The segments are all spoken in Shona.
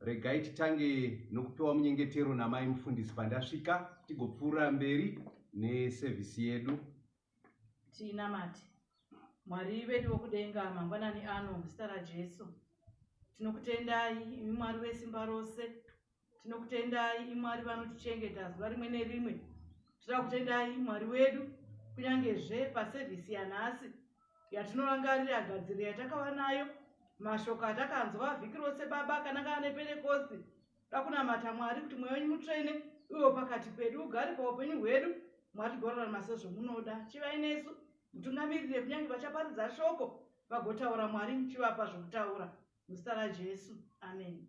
regai titange nokupiwa munyengetero namai mufundisi pandasvika tigopfuura mberi nesevhisi yedu tiinamati mwari vedu vokudenga mangwanani ano muzita rajesu tinokutendai imi mwari vesimba rose tinokutendai imi mwari vanotichengeta zuva rimwe nerimwe tinoda kutendai mwari wedu kunyange zve pasevhisi yanhasi yatinorangarira gadziriro yatakava nayo mashoko atakanzwa vhiki rose baba akanangana neperekosti dakunamata mwari kuti mweya wenyu mutsvene uyo pakati pedu ugari paupenyu hwedu mwari gorarama sezvomunoda chivai nesu mutungamirire kunyange vachaparidza shoko vagotaura mwari muchivapa zvokutaura muzita rajesu ameni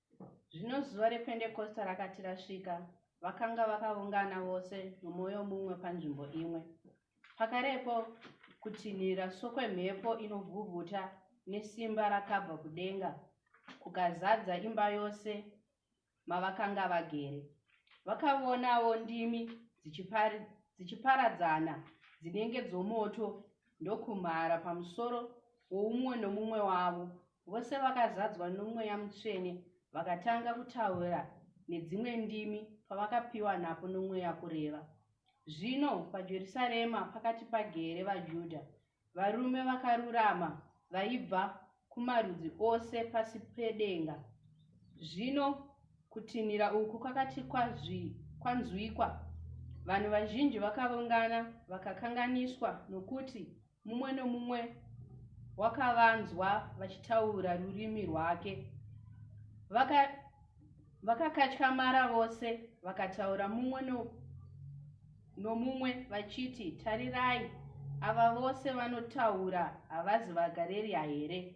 zvino zuva rependekosta rakati rasvika vakanga vakaungana vose nomwoyo mumwe panzvimbo imwe pakarepo kutinhira sokwemhepo inovhuvhuta nesimba rakabva kudenga kukazadza imba yose mavakanga vagere vakavonawo ndimi dzichiparadzana dzinenge dzomoto ndokumhara pamusoro woumwe nomumwe wavo vose vakazadzwa nomweya mutsvene vakatanga kutaura nedzimwe ndimi pavakapiwa napo nomweya kureva zvino pajerusarema pakati pagere vajudha varume vakarurama vaibva kumarudzi ose pasi pedenga zvino kutinhira uku kwakati kwanzwikwa vanhu vazhinji vakaungana vakakanganiswa nokuti mumwe nomumwe wakavanzwa vachitaura rurimi rwake vakakatyamara vaka vose vakataura mumwe no, nomumwe vachiti tarirai ava vose vanotaura havazi vagareriya here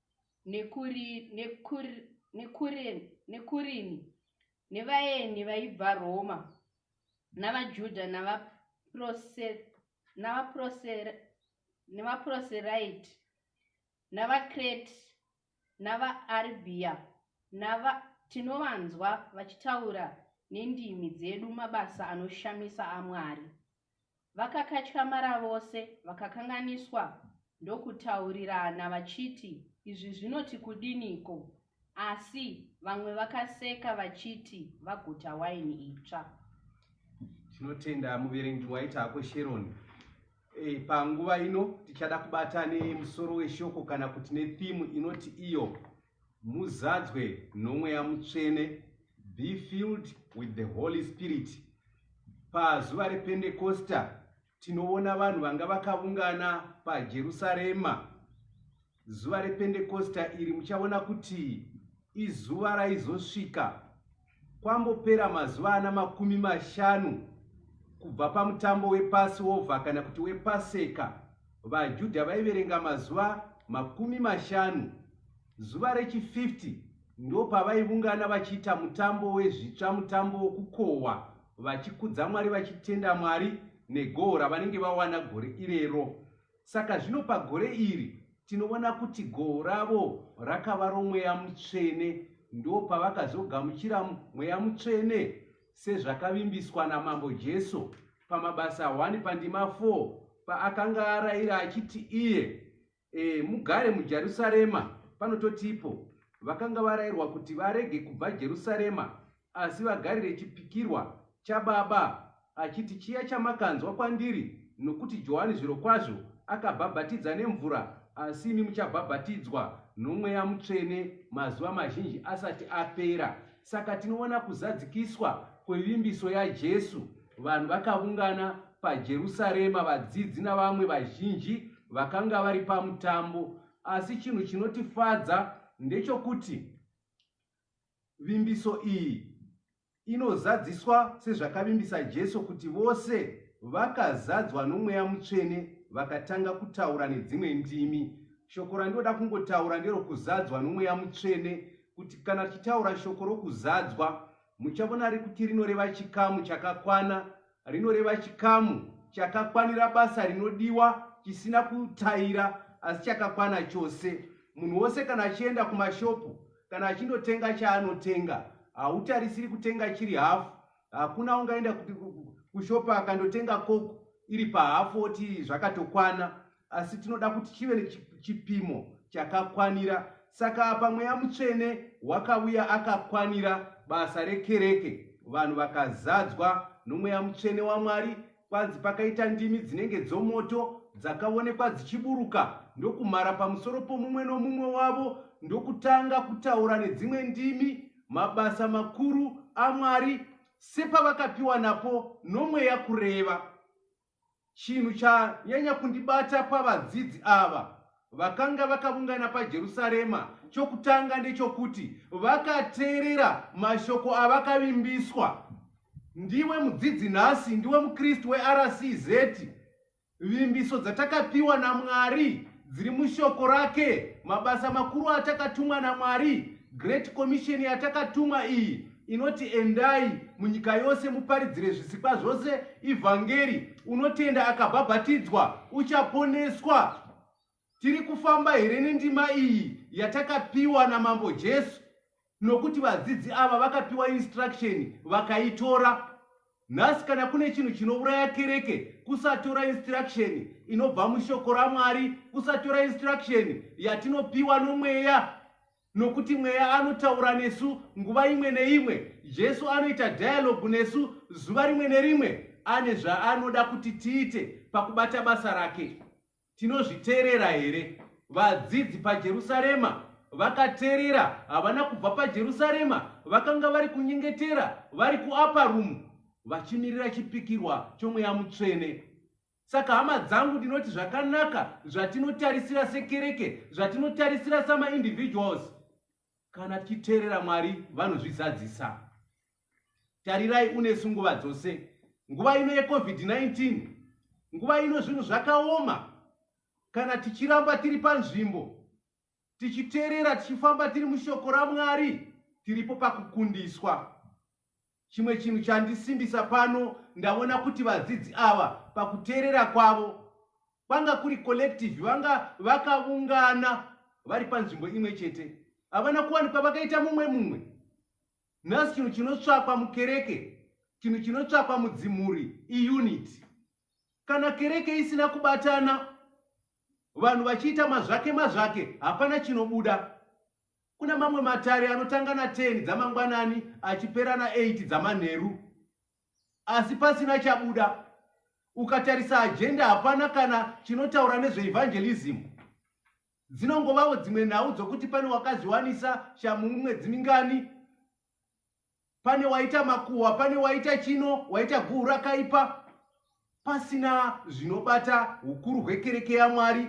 nekuri, nekur, nekuren, nekurini nevaeni vaibva Roma navaJudha navaProseraiti navaKrete navaArabia nava tinovanzwa vachitaura nendimi dzedu mabasa anoshamisa aMwari. Vakakatyamara vose vakakanganiswa ndokutaurirana vachiti izvi zvinoti kudiniko asi vamwe vakaseka vachiti vaguta waini itsva. Tinotenda muverengi waita hako Sharon. E, panguva ino tichada kubata nemusoro weshoko kana kuti nethimu inoti iyo Muzadzwe noMweya Mutsvene, be filled with the Holy Spirit. Pazuva rePentecosta tinoona vanhu vanga vakavungana paJerusarema. Zuva rePentecosta iri muchaona kuti izuva raizosvika. Kwambopera mazuva ana makumi mashanu kubva pamutambo wepasiova kana kuti wepaseka vajudha vaiverenga mazuva makumi mashanu zuva rechi50 ndo pavaivungana vachiita mutambo wezvitsva mutambo wokukohwa vachikudza mwari vachitenda mwari negoho ravanenge vawana gore irero Saka zvino pagore iri tinoona kuti goho ravo rakava romweya mutsvene, ndopavakazogamuchira mweya mutsvene sezvakavimbiswa naMambo Jesu pamabasa 1 pandima 4 paakanga arayira achiti iye e, mugare muJerusarema. Panototipo vakanga varayirwa kuti varege kubva Jerusarema Asi vagarire chipikirwa chababa achiti, Chiya chamakanzwa kwandiri, nokuti Johani zvirokwazvo akabhabhatidza nemvura, asi imi muchabhabhatidzwa noMweya Mutsvene mazuva mazhinji asati apera. Saka tinoona kuzadzikiswa kwevimbiso yaJesu. Vanhu vakavungana paJerusarema, vadzidzi navamwe vazhinji vakanga vari pamutambo. Asi chinhu chinotifadza ndechokuti Vimbiso iyi inozadziswa sezvakavimbisa Jesu kuti vose vakazadzwa nomweya mutsvene vakatanga kutaura nedzimwe ndimi. Shoko randinoda kungotaura nderokuzadzwa nomweya mutsvene, kuti kana tichitaura shoko rokuzadzwa, muchavona rikuti rinoreva chikamu chakakwana rinoreva chikamu chakakwanira basa rinodiwa chisina kutaira asi chakakwana chose munhu wose kana achienda kumashopu kana achindotenga chaanotenga hautarisiri kutenga chiri hafu hakuna ungaenda kushopu akandotenga koko iri pahafu oti zvakatokwana asi tinoda kuti chive nechipimo chakakwanira saka apa mweya mutsvene wakavuya akakwanira basa rekereke vanhu vakazadzwa nomweya mutsvene wamwari kwanzi pakaita ndimi dzinenge dzomoto dzakaonekwa dzichiburuka ndokumhara pamusoro pomumwe nomumwe wavo ndokutanga kutaura nedzimwe ndimi mabasa makuru amwari sepavakapiwa napo nomweya kureva Chinhu chanyanya kundibata pavadzidzi ava vakanga vakaungana paJerusarema chokutanga ndechokuti vakateerera mashoko avakavimbiswa. Ndiwe mudzidzi nhasi, ndiwe muKristu weRCZ. Vimbiso dzatakapiwa naMwari dziri mushoko rake, mabasa makuru atakatumwa naMwari, Great Commission yatakatumwa iyi inoti endai munyika yose muparidzire zvisikwa zvose ivhangeri unotenda akabhabhatidzwa uchaponeswa tiri kufamba here nendima iyi yatakapiwa namambo jesu nokuti vadzidzi ava vakapiwa instruction vakaitora nhasi kana kune chinhu chinouraya kereke kusatora instruction inobva mushoko ramwari kusatora instruction yatinopiwa nomweya Nokuti Mweya anotaura nesu nguva imwe neimwe. Jesu anoita dialogue nesu zuva rimwe nerimwe. Ane zvaanoda kuti tiite pakubata basa rake. Tinozviteerera here? Vadzidzi paJerusarema vakateerera. Havana kubva paJerusarema. Vakanga vari kunyengetera vari kuupper room vachimirira chipikirwa choMweya Mutsvene. Saka hama dzangu ndinoti zvakanaka zvatinotarisira sekereke, zvatinotarisira samaindividuals, kana tichiteerera Mwari vanozvizadzisa. Tarirai unesu nguva dzose, nguva ino yeCovid-19, nguva ino zvinhu zvakaoma, kana tichiramba tiri panzvimbo, tichiteerera, tichifamba tiri mushoko raMwari, tiripo pakukundiswa. Chimwe chinhu chandisimbisa pano ndavona kuti vadzidzi ava pakuteerera kwavo kwanga kuri collective vanga vakavungana vari panzvimbo imwe chete havana kuwanikwa vakaita mumwe mumwe nhasi chinhu chinotsvakwa mukereke chinhu chinotsvakwa mudzimhuri iunity kana kereke isina kubatana vanhu vachiita mazvake mazvake hapana chinobuda Kune mamwe matare anotanga na 10 dzamangwanani achipera na 8 dzamanheru asi pasina chabuda. Ukatarisa ajenda hapana kana chinotaura nezveevangelizimu. Dzinongovawo dzimwe nhau dzokuti pane wakazviwanisa shamhu mumwedzi mingani. Pane waita makuhwa, pane waita chino, waita guhu rakaipa, pasina zvinobata ukuru hwekereke yaMwari,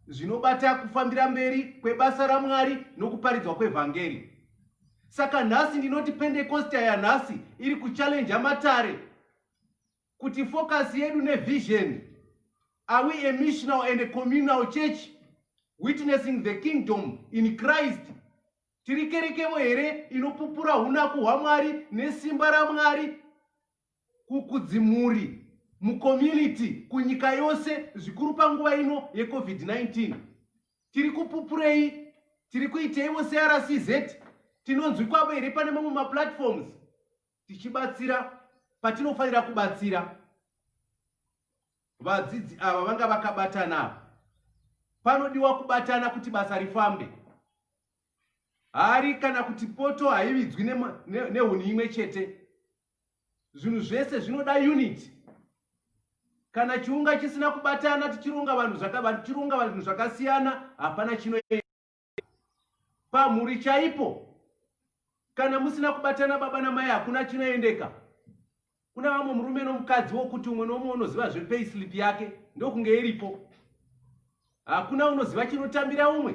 zvinobata kufambira mberi kwebasa raMwari nokuparidzwa kwevhangeri. Saka nhasi ndinoti Pentekosta yanhasi iri kuchallenja matare kuti focus yedu nevision are we a missional and a communal church witnessing the kingdom in Christ Tiri kerekemo here inopupura hunaku hwaMwari nesimba raMwari kukudzimuri, mucommunity, kunyika yose, zvikuru panguva ino yeCovid-19? Tiri kupupurei? Tiri kuiteiwo seRCZ? Tinonzwi kwavo here pane mamwe maplatforms? tichibatsira patinofanira kubatsira vadzidzi ava vanga vakabatana ava panodiwa kubatana kuti basa rifambe hari kana kuti poto haividzwi nehuni imwe chete zvinhu zvese zvinoda unit kana chiunga chisina kubatana tichironga vanhu tichironga vanhu zvakasiyana hapana chinoenda pamhuri chaipo kana musina kubatana baba namai hakuna chinoendeka kuna vamwe murume nomukadzi wokuti umwe nomwe unoziva zvepayslip yake ndokunge iripo hakuna unoziva chinotambira umwe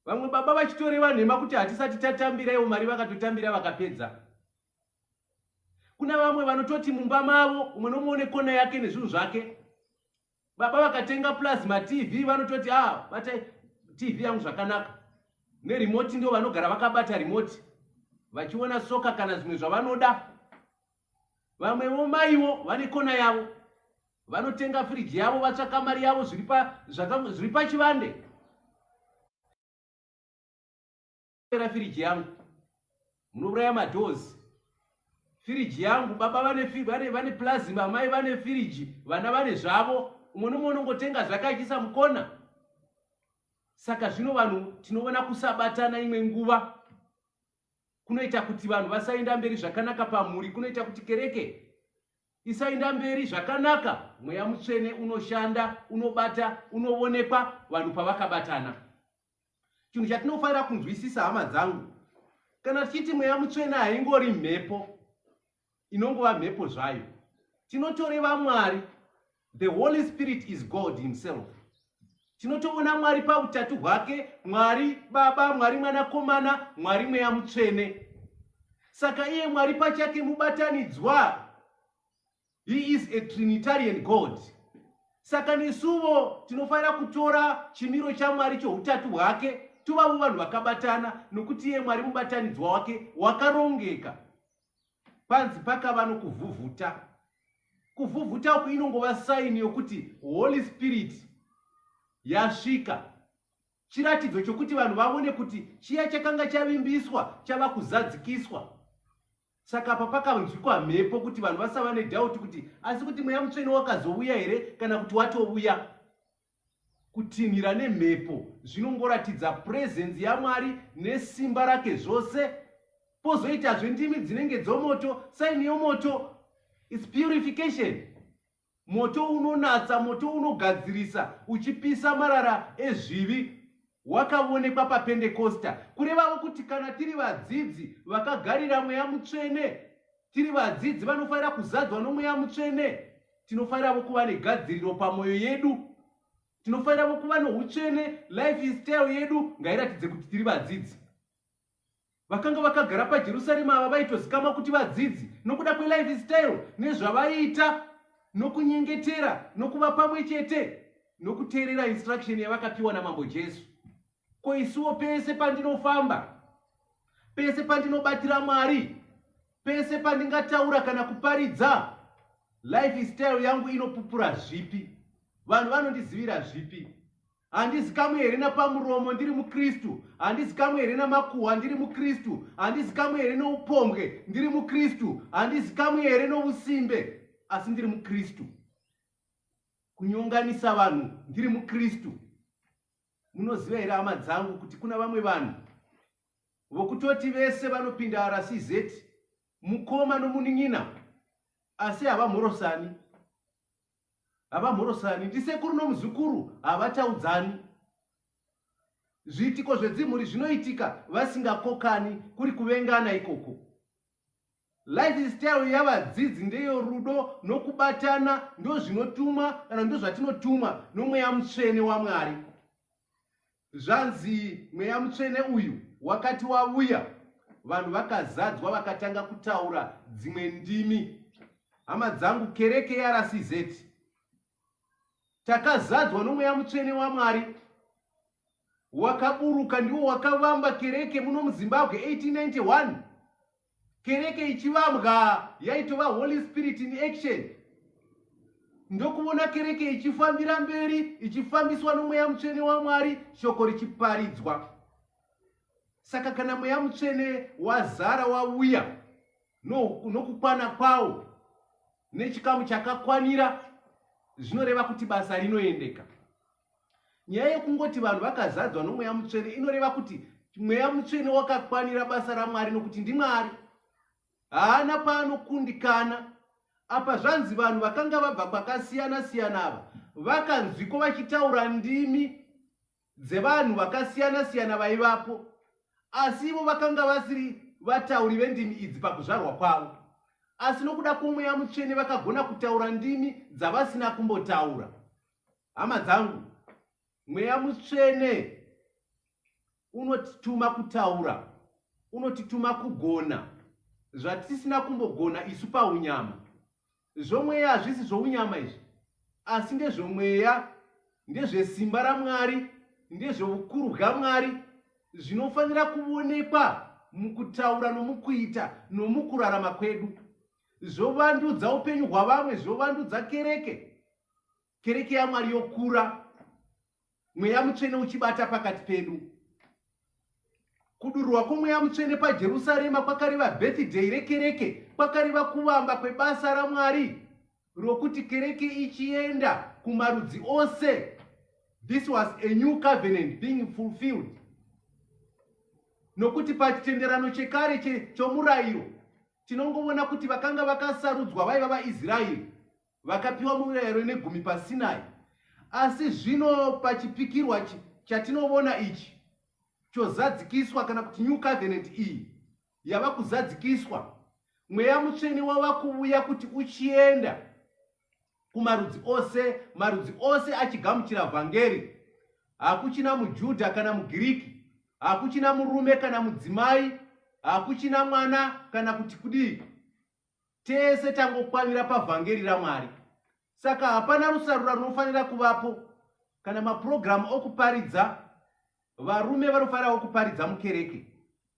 vamwe baba vachitoreva nhema kuti hatisati tatambira ivo mari vakatotambira vakapedza kuna vamwe vanototi mumba mavo umwe nomwe une kona yake nezvinhu zvake Baba vakatenga plus ma TV vanototi ah bata TV yangu zvakanaka. Ne remote ndio vanogara vakabata remote. Vachiona soka kana zvimwe zvavanoda. Vamwewo maiwo vane kona yavo. Vanotenga fridge yavo vatsvaka mari yavo zviri pa zvaka zviri pachivande. munopera firiji yangu munouraya madhozi firiji yangu baba vane vane vane plasma mai vane firiji vana vane zvavo umwe nomwe unongotenga zvake achiisa mukona saka zvino vanhu tinoona kusabatana imwe nguva kunoita kuti vanhu vasaenda mberi zvakanaka pamhuri kunoita kuti kereke isaenda mberi zvakanaka mweya mutsvene unoshanda unobata unovonekwa vanhu pavakabatana chinhu chatinofanira kunzwisisa hama dzangu kana tichiti mweya mutsvene haingori mhepo inongova mhepo zvayo tinotoreva mwari the holy spirit is god himself tinotoona mwari pautatu hwake mwari baba mwari mwanakomana mwari mweya mutsvene saka iye mwari pachake mubatanidzwa He is a trinitarian God. Saka nesuvo tinofanira kutora chimiro chaMwari choutatu hwake tovavo vanhu vakabatana nokuti iye Mwari mubatanidzwa wake wakarongeka. Panzi pakava nokuvhuvhuta. Kuvhuvhuta uku inongova saini yokuti Holy Spirit yasvika. Chiratidzo chokuti vanhu vavone kuti chiya chakanga chavimbiswa chava kuzadzikiswa. Saka apa pakanzwikwa mhepo kuti vanhu vasava nedhauti kuti asi kuti mweya mutsvene wakazouya here kana kuti watouya. Kutinhira nemhepo zvinongoratidza purezenzi yaMwari nesimba rake zvose. Pozoitazve ndimi dzinenge dzomoto, saini yomoto, its purification. Moto unonatsa, moto unogadzirisa, uchipisa marara ezvivi wakavonekwa paPendekosta, kurevawo kuti kana tiri vadzidzi vakagarira Mweya Mutsvene, tiri vadzidzi vanofanira kuzadzwa noMweya Mutsvene, tinofaniravo kuva negadziriro pamwoyo yedu, tinofaniravo kuva noutsvene, life style yedu ngairatidze kuti tiri vadzidzi. Vakanga vakagara paJerusarema ava vaitozikamwa kuti vadzidzi nokuda kwelife style nezvavaiita nokunyengetera nokuva pamwe chete nokuteerera instruction yavakapiwa naMambo Jesu. Ko isuwo pese pandinofamba, pese pandinobatira Mwari, pese pandingataura kana kuparidza, life style yangu inopupura zvipi? Vanhu vanondizivira zvipi? handizikamwe here napamuromo ndiri mukristu handizikamwe here namakuhwa ndiri mukristu handizikamwe here noupombwe ndiri mukristu handizikamwe here nousimbe asi ndiri mukristu kunyonganisa vanhu ndiri mukristu munoziva here hama dzangu kuti kuna vamwe vanhu vokutoti vese vanopinda rcz mukoma nomunin'ina asi havamhorosani Havamhorosani, ndisekuru nomuzukuru havataudzani. Zviitiko zvedzimhuri zvinoitika vasingakokani kuri kuvengana ikoko. Lifestyle yavadzidzi ndeyo rudo nokubatana ndozvinotumwa kana ndozvatinotumwa nomweya mutsvene waMwari. Zvanzi mweya mutsvene uyu wakati wavuya vanhu vakazadzwa vakatanga kutaura dzimwe ndimi. Hama dzangu kereke yeRCZ takazadzwa nomweya mutsvene waMwari wakaburuka ndiwo wakavamba kereke muno muZimbabwe 1891 Kereke ichivambwa yaitova Holy Spirit in action. Ndokuvona kereke ichifambira mberi, ichifambiswa nomweya mutsvene waMwari, shoko richiparidzwa. Saka kana mweya mutsvene wazara wauya nokukwana kwawo nechikamu chakakwanira zvinoreva kuti basa rinoendeka. Nyaya yekungoti vanhu vakazadzwa nomweya mutsvene inoreva kuti mweya mutsvene wakakwanira basa ramwari nokuti ndimwari haana paanokundikana apa zvanzi vanhu vakanga vabva kwakasiyana siyana ava vakanzwiko vachitaura ndimi dzevanhu vakasiyana siyana vaivapo asi ivo vakanga vasiri vatauri vendimi idzi pakuzvarwa kwavo asi nokuda kwomweya mutsvene vakagona kutaura ndimi dzavasina kumbotaura Hama dzangu, mweya mutsvene unotituma kutaura, unotituma kugona zvatisina kumbogona isu paunyama. Zvomweya hazvisi zvounyama izvi, asi ndezvomweya, ndezvesimba raMwari, ndezveukuru hwaMwari, zvinofanira kuonekwa mukutaura nomukuita nomukurarama kwedu, zvovandudza upenyu hwavamwe, zvovandudza kereke. Kereke yaMwari yokura, Mweya Mutsvene uchibata pakati pedu. Kudururwa kwomweya mutsvene pajerusarema kwakareva birthday rekereke kwakareva kuvamba kwebasa ramwari rokuti kereke ichienda kumarudzi ose this was a new covenant being fulfilled nokuti pachitenderano chekare chomurayiro tinongovona kuti vakanga vakasarudzwa vaiva vaisraeri Vakapiwa murayiro negumi paSinai, asi zvino pachipikirwa chatinovona ichi chozadzikiswa, kana kuti New Covenant iyi yava kuzadzikiswa, Mweya Mutsvene wava kuvuya kuti uchienda kumarudzi ose, marudzi ose achigamuchira Vhangeri. Hakuchina muJudha kana muGiriki, hakuchina murume kana mudzimai, hakuchina mwana kana kuti kudii. Tese tangokwanira pavhangeri raMwari, saka hapana rusarura runofanira kuvapo kana mapurogiramu okuparidza. Varume vanofanirawo kuparidza mukereke,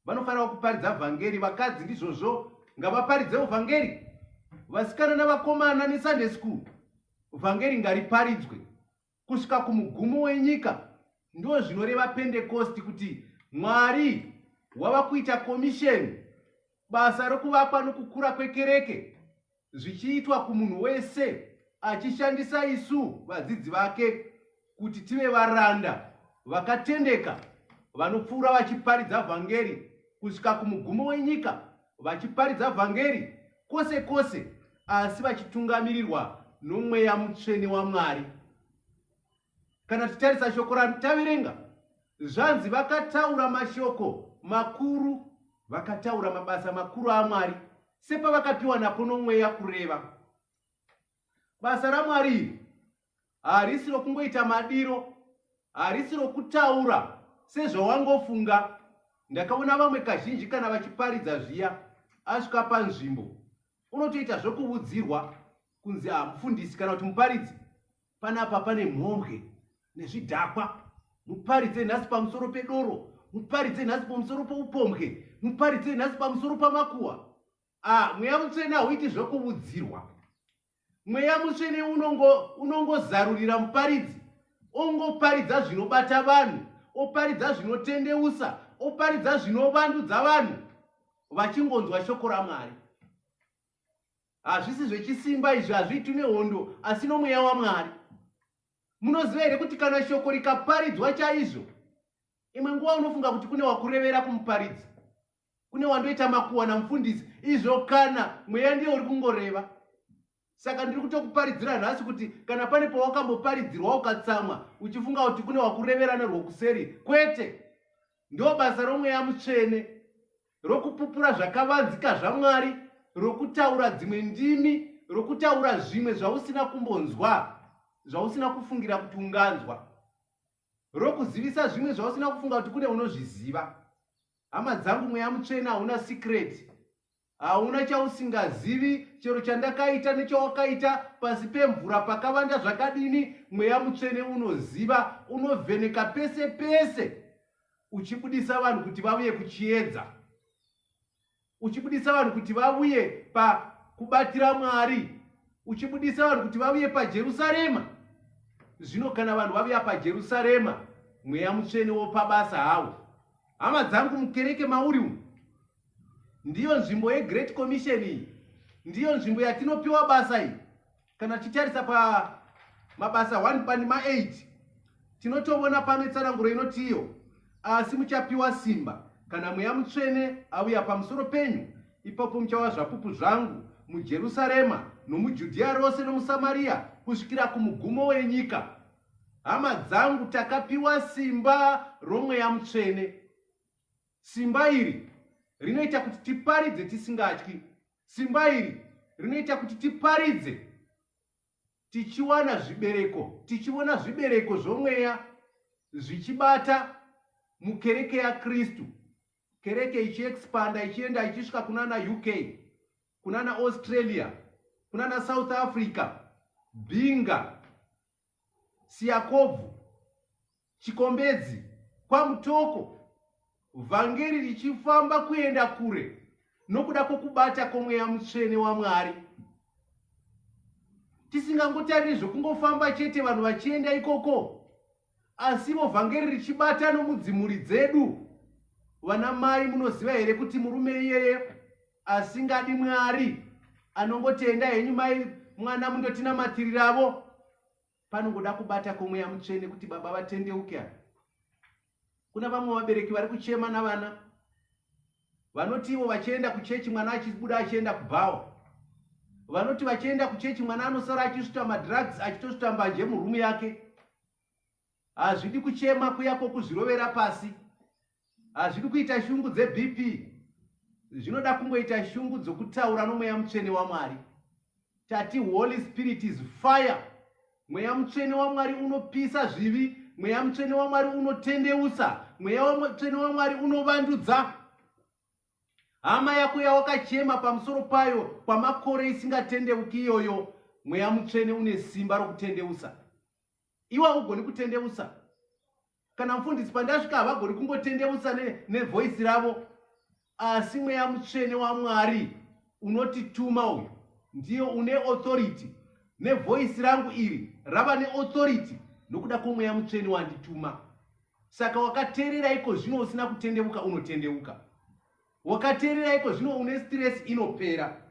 vanofanirawo kuparidza vhangeri. Vakadzi ndizvozvo, ngavaparidzewo vhangeri. Vasikana navakomana neSunday school, vhangeri ngariparidzwe. Kusvika kumugumo wenyika ndo zvinoreva Pentekosti kuti Mwari wava kuita komisheni basa rokuvakwa nokukura kwekereke zvichiitwa kumunhu wese achishandisa isu vadzidzi vake kuti tive varanda vakatendeka vanopfuura vachiparidza vhangeri kusvika kumugumo wenyika vachiparidza vhangeri kwose kwose, asi vachitungamirirwa nomweya mutsvene waMwari. Kana tichitarisa shoko rataverenga, zvanzi vakataura mashoko makuru, vakataura mabasa makuru aMwari sepavakapiwa napo nomweya kureva. Basa raMwari iri harisi rokungoita madiro harisi rokutaura sezvawangofunga ndakaona vamwe kazhinji kana vachiparidza zviya asvika panzvimbo unotoita zvokuvudzirwa kunzi ah, mufundisi kana kuti muparidzi panapa pane mhombwe nezvidhakwa muparidze nhasi pamusoro pedoro muparidze nhasi pamusoro poupombwe muparidze nhasi pamusoro pamakuwa ah, mweya mutsvene hauiti zvokuvudzirwa Mweya mutsvene unongo unongozarurira muparidzi ongoparidza zvinobata vanhu oparidza zvinotendeusa oparidza zvinovandudza vanhu vachingonzwa shoko ramwari hazvisi zvechisimba izvi hazviitwi nehondo asi nomweya wamwari munoziva here kuti kana shoko rikaparidzwa chaizvo imwe nguva unofunga kuti kune wakurevera kumuparidzi kune wandoita makuwa namufundisi izvo kana mweya ndiye uri kungoreva saka ndiri kutokuparidzira nhasi kuti kana pane pawakamboparidzirwa ukatsamwa uchifunga kuti kune wakureverana rwokuseri kwete ndo basa romweya mutsvene rokupupura zvakavanzika zvamwari rokutaura dzimwe ndimi rokutaura zvimwe zvausina kumbonzwa zvausina kufungira kuti unganzwa rokuzivisa zvimwe zvausina kufunga kuti kune unozviziva hama dzangu mweya mutsvene hauna sikreti hauna chausingazivi chero chandakaita nechawakaita pasi pemvura pakavanda zvakadini mweya mutsvene unoziva unovheneka pese pese uchibudisa vanhu kuti vavuye kuchiedza uchibudisa vanhu kuti vavuye pakubatira mwari uchibudisa vanhu kuti vavuye pajerusarema zvino kana vanhu vavuya pajerusarema mweya mutsvene wopabasa hawo hama dzangu mukereke mauri umu ndiyo nzvimbo yegreat commission iyi ndiyo nzvimbo yatinopiwa basa iyi kana tichitarisa pamabasa 1 pandima 8 tinotovona pano itsananguro inoti iyo asi muchapiwa simba kana mweya mutsvene auya pamusoro penyu ipapo muchava zvapupu zvangu mujerusarema nomujudhiya rose nomusamariya kusvikira kumugumo wenyika hama dzangu takapiwa simba romweya mutsvene Simba iri rinoita kuti tiparidze tisingatyi. Simba iri rinoita kuti tiparidze tichiwana zvibereko, tichiona zvibereko zvomweya zvichibata mukereke yaKristu. Kereke ichiexpanda ichienda ichisvika kunana UK, kunana Australia, kunana South Africa, Binga, Siyakobvu, Chikombedzi, kwaMutoko, vhangeri richifamba kuenda kure nokuda kwokubata kwomweya mutsvene waMwari. Tisingangotariri zvokungofamba chete vanhu vachienda ikoko, asivo vhangeri richibata nomudzimuri dzedu. Vana mai, munoziva here kuti murume iyeye asingadi mwari anongotenda henyu mai mwana mundotinamatiriravo panongoda kubata kwemweya mutsvene kuti baba vatendeuke ava kuna vamwe vabereki vari kuchema navana vanoti ivo vachienda kuchechi mwana achibuda achienda kubhawa vanoti vachienda kuchechi mwana anosara achisvuta madrugs achitosvuta mbanje murumu yake hazvidi kuchema kuya kwokuzvirovera pasi hazvidi kuita shungu dzebp zvinoda kungoita shungu dzokutaura nomweya mutsvene wamwari tati holy spirit is fire mweya mutsvene wamwari unopisa zvivi mweya mutsvene wamwari unotendeusa mweya mutsvene wamwari unovandudza hama yako yawakachema pamusoro payo kwamakore isingatendeuki iyoyo mweya mutsvene une simba rokutendeusa Iwe haugoni kutendeusa. Kana mfundisi pandasvika havagoni kungotendeusa nevoice ravo asi mweya mutsvene waMwari unotituma uyu ndiye une authority nevoice rangu iri rava neauthority nokuda kwomweya mutsvene wandituma saka wakateerera iko zvino usina kutendeuka unotendeuka Wakateerera iko zvino une stress inopera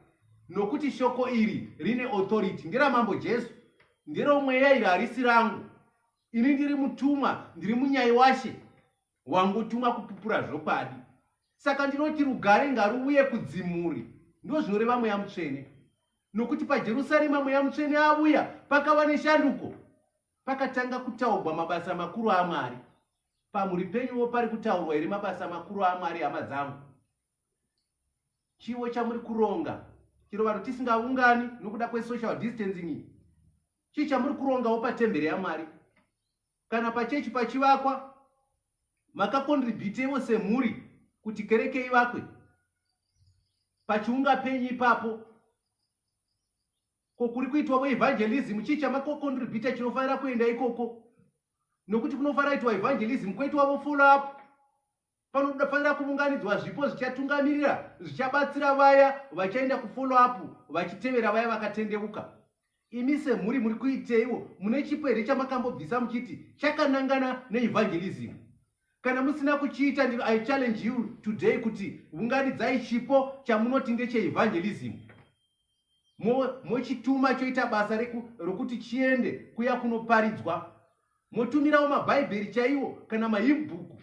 nokuti shoko iri rine authority nderamambo Jesu nderomweya iri harisi rangu ini ndiri mutumwa ndiri munyai washe wangotuma kupupura zvokwadi saka ndinoti rugare ngaruuye kudzimuri ndo zvinoreva mweya mutsvene nokuti pajerusarema mweya mutsvene avuya pakava neshanduko pakatanga kutaugwa mabasa makuru amwari Pamhuri penyuwo pari kutaurwa here mabasa makuru aMwari hama dzangu? Chiwo chamuri kuronga chero vanhu tisingaungani nokuda kwesocial distancing iyi chii chamuri kurongawo patembere yamwari kana pachechi pachivakwa makakontribhutewo semhuri kuti kereke ivakwe pachiunga penyu ipapo ko kuri kuitwavo evangelism chii chamakokontributa chinofanira kuenda ikoko nokuti kunofanira itwa evangelism kwoitwavo follow up panofanira kuvunganidzwa zvipo zvichatungamirira zvichabatsira vaya vachaenda kufollow up vachitevera vaya vakatendeuka imi semhuri muri kuiteiwo mune chipo here chamakambobvisa muchiti chakanangana neevangelism kana musina kuchiita ndiro i challenge you today kuti vunganidzai chipo chamunoti ndecheevangelism mochituma mo choita basa rokuti chiende kuya kunoparidzwa motumirawo mabhaibheri chaiwo kana mahibhuku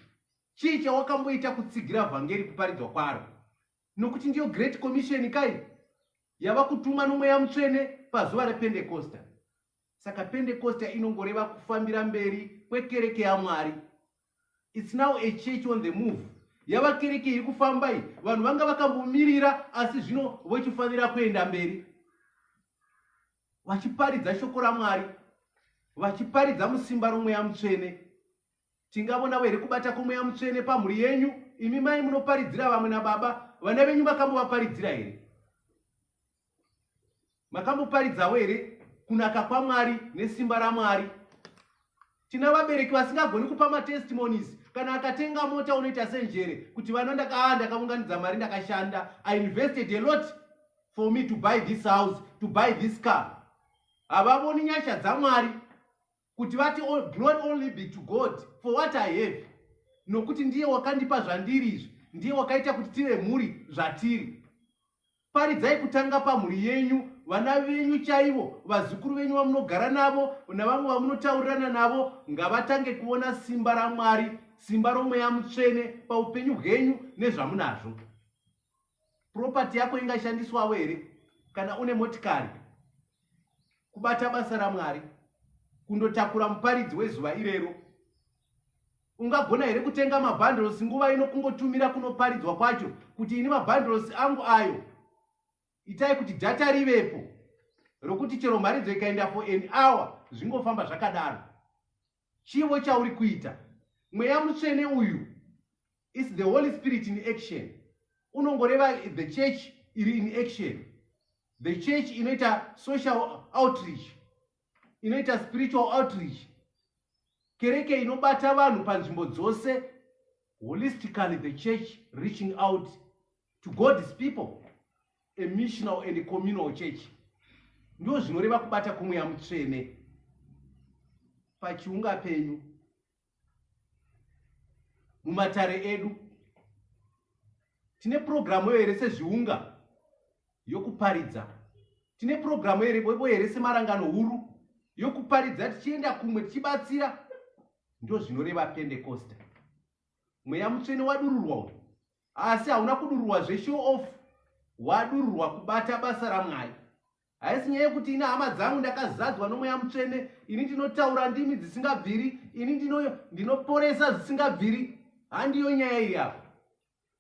chii chawakamboita kutsigira vhangeri kuparidzwa kwaro nokuti ndiyo great commission kai yava kutuma nomweya mutsvene pazuva rependekosta Saka Pentecosta inongoreva kufambira mberi kwekereke yaMwari. It's now a church on the move. Yava kereke iri kufamba iyi. Vanhu vanga vakambomirira asi zvino vochifanira kuenda mberi. Vachiparidza shoko raMwari. Vachiparidza musimba romweya mutsvene. Tingavonavo here kubata kwomweya mutsvene pamhuri yenyu? Imi mai munoparidzira vamwe nababa, vana venyu vakambovaparidzira here? Makamboparidzawo here kunaka kwaMwari nesimba raMwari? Tina vabereki vasingagoni kupa matestimonies. Kana akatenga mota unoita senjere kuti vana ndakaa ah, ndakaunganidza mari ndakashanda. I invested a lot for me to buy this house, to buy this car. Havavoni nyasha dzaMwari. kuti vati all, glory only be to god for what i have nokuti ndiye wakandipa zvandiri izvi ndiye wakaita kuti tive mhuri zvatiri paridzai kutanga pamhuri yenyu vana venyu chaivo vazukuru venyu vamunogara navo navamwe vamunotaurirana navo ngavatange kuona simba ramwari simba romweya mutsvene paupenyu hwenyu nezvamunazvo property yako ingashandiswawo here kana une motikari kubata basa ramwari kundotakura muparidzi wezuva irero ungagona here kutenga mabhandles nguva ino kungotumira kunoparidzwa kwacho kuti ini mabhandles angu ayo itai kuti data rivepo rokuti chero mharidzo ikaenda for an hour zvingofamba zvakadaro Chivo chauri kuita. Mweya mutsvene uyu is the Holy Spirit in action. Unongoreva the church iri in action. The church inoita social outreach. Inoita spiritual outreach. Kereke inobata vanhu panzvimbo dzose. Holistically the church reaching out to god's people a missional and communal church ndo zvinoreva kubata kumweya mutsvene pachiunga penyu mumatare edu tine purogiramu yo here sezviunga yokuparidza tine purogiramu yo here semarangano huru yokuparidza tichienda kumwe tichibatsira ndo zvinoreva pendekosta mweya mutsvene wadururwa uyu asi hauna kudururwa zveshow off wadururwa kubata basa ramwari haisi nyaya yekuti ini hama dzangu ndakazadzwa nomweya mutsvene ini ndinotaura ndimi dzisingabviri ini ndinoporesa zvisingabviri handiyo nyaya iri apa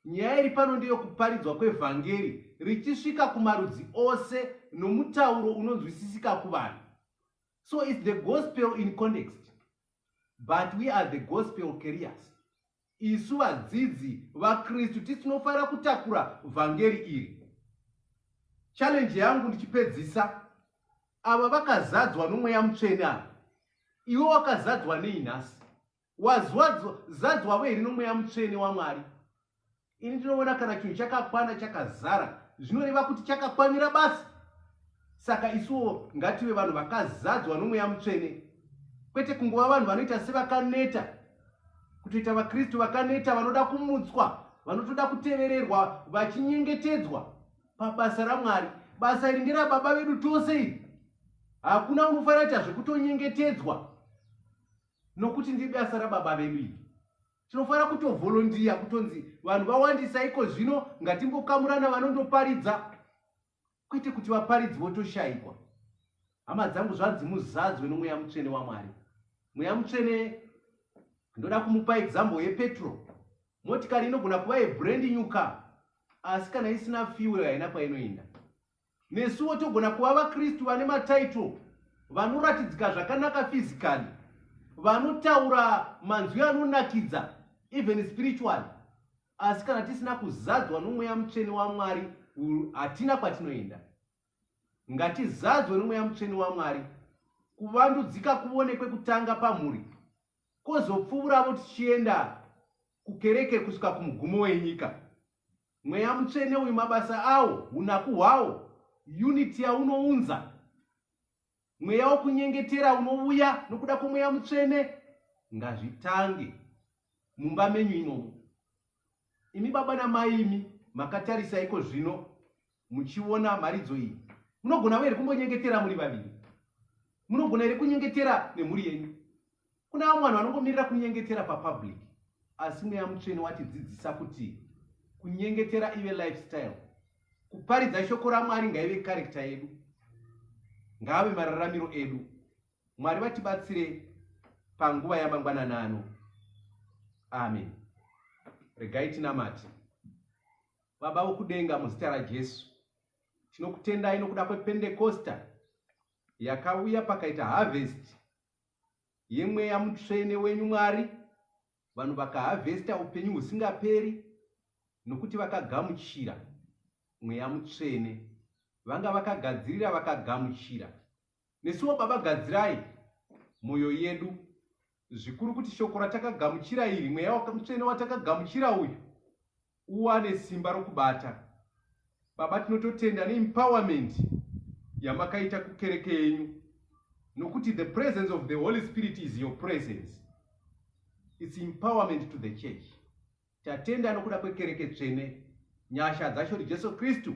nyaya iri pano ndeyokuparidzwa kwevhangeri richisvika kumarudzi ose nomutauro unonzwisisika kuvanhu so its the gospel in context but we are the gospel carriers Isu vadzidzi vaKristu tinofanira kutakura vhangeri iri. Challenge yangu ndichipedzisa, ava vakazadzwa nomweya mutsvene ava, iwe wakazadzwa nei nhasi? Wazadzwavo here nomweya mutsvene waMwari? Ini ndinoona kana chinhu chakakwana chakazara zvinoreva kuti chakakwanira basa. Saka isuwo ngative vanhu vakazadzwa nomweya mutsvene, kwete kungova vanhu vanoita sevakaneta, kutoita vaKristu vakaneta vanoda kumutswa, vanotoda kutevererwa, vachinyengetedzwa pabasa raMwari. Basa iri nderababa vedu tose iri. Hakuna unofanira kuita zvekutonyengetedzwa nokuti ndiri basa rababa vedu iri. Tinofanira kutovolondiya kutonzi vanhu vawandisa iko zvino, ngatimbokamurana vanondoparidza kwete kuti vaparidzi votoshaikwa hama dzangu zvanzi muzadzwe nomweya mutsvene wamwari mweya mutsvene ndoda kumupa example yepetro motikari inogona kuva yebrand new car asi kana isina fuel haina kwainoenda nesuwo togona kuva vakristu vane matitle vanoratidzika zvakanaka physically vanotaura manzwi anonakidza even spiritually Asi kana tisina kuzadzwa nomweya mutsvene waMwari, hatina kwatinoenda. Ngatizadzwe nomweya mutsvene waMwari. Kuvandudzika kuvonekwe kutanga pamhuri, kozopfuuravo tichienda kukereke kusvika kumugumo wenyika. Mweya mutsvene uyu mabasa awo, unaku hwawo, unity yaunounza, Mweya wokunyengetera unouya nokuda kwomweya mutsvene ngazvitange mumba menyu imomo. Imi baba namai imi makatarisa iko zvino muchiona mharidzo iyi, munogona here kumbonyengetera muri vaviri? Munogona here kunyengetera nemhuri yenyu? Kuna vamwe vanhu vanongomirira kunyengetera papublic, asi mweya mutsvene watidzidzisa kuti kunyengetera ive lifestyle. Kuparidza shoko raMwari ngaive karekta yedu, ngaave mararamiro edu. Mwari vatibatsire panguva yamangwanana ano. Amen. Regai tinamate. Baba vokudenga, muzita raJesu, tinokutendai nokuda kwependekosta yakauya pakaita harvest yemweya mutsvene wenyu mwari vanhu vakahavhesta upenyu husingaperi nokuti vakagamuchira mweya mutsvene vanga vakagadzirira vakagamuchira nesuwo baba gadzirai mwoyo yedu zvikuru kuti shoko ratakagamuchira iri mweya mutsvene watakagamuchira uyu uwane simba rokubata. Baba tinototenda ne empowerment yamakaita kukereke yenyu nokuti the presence of the Holy Spirit is your presence. It's empowerment to the church. Tatenda nokuda kwekereke tsvene. Nyasha dzacho ndiJesu Kristu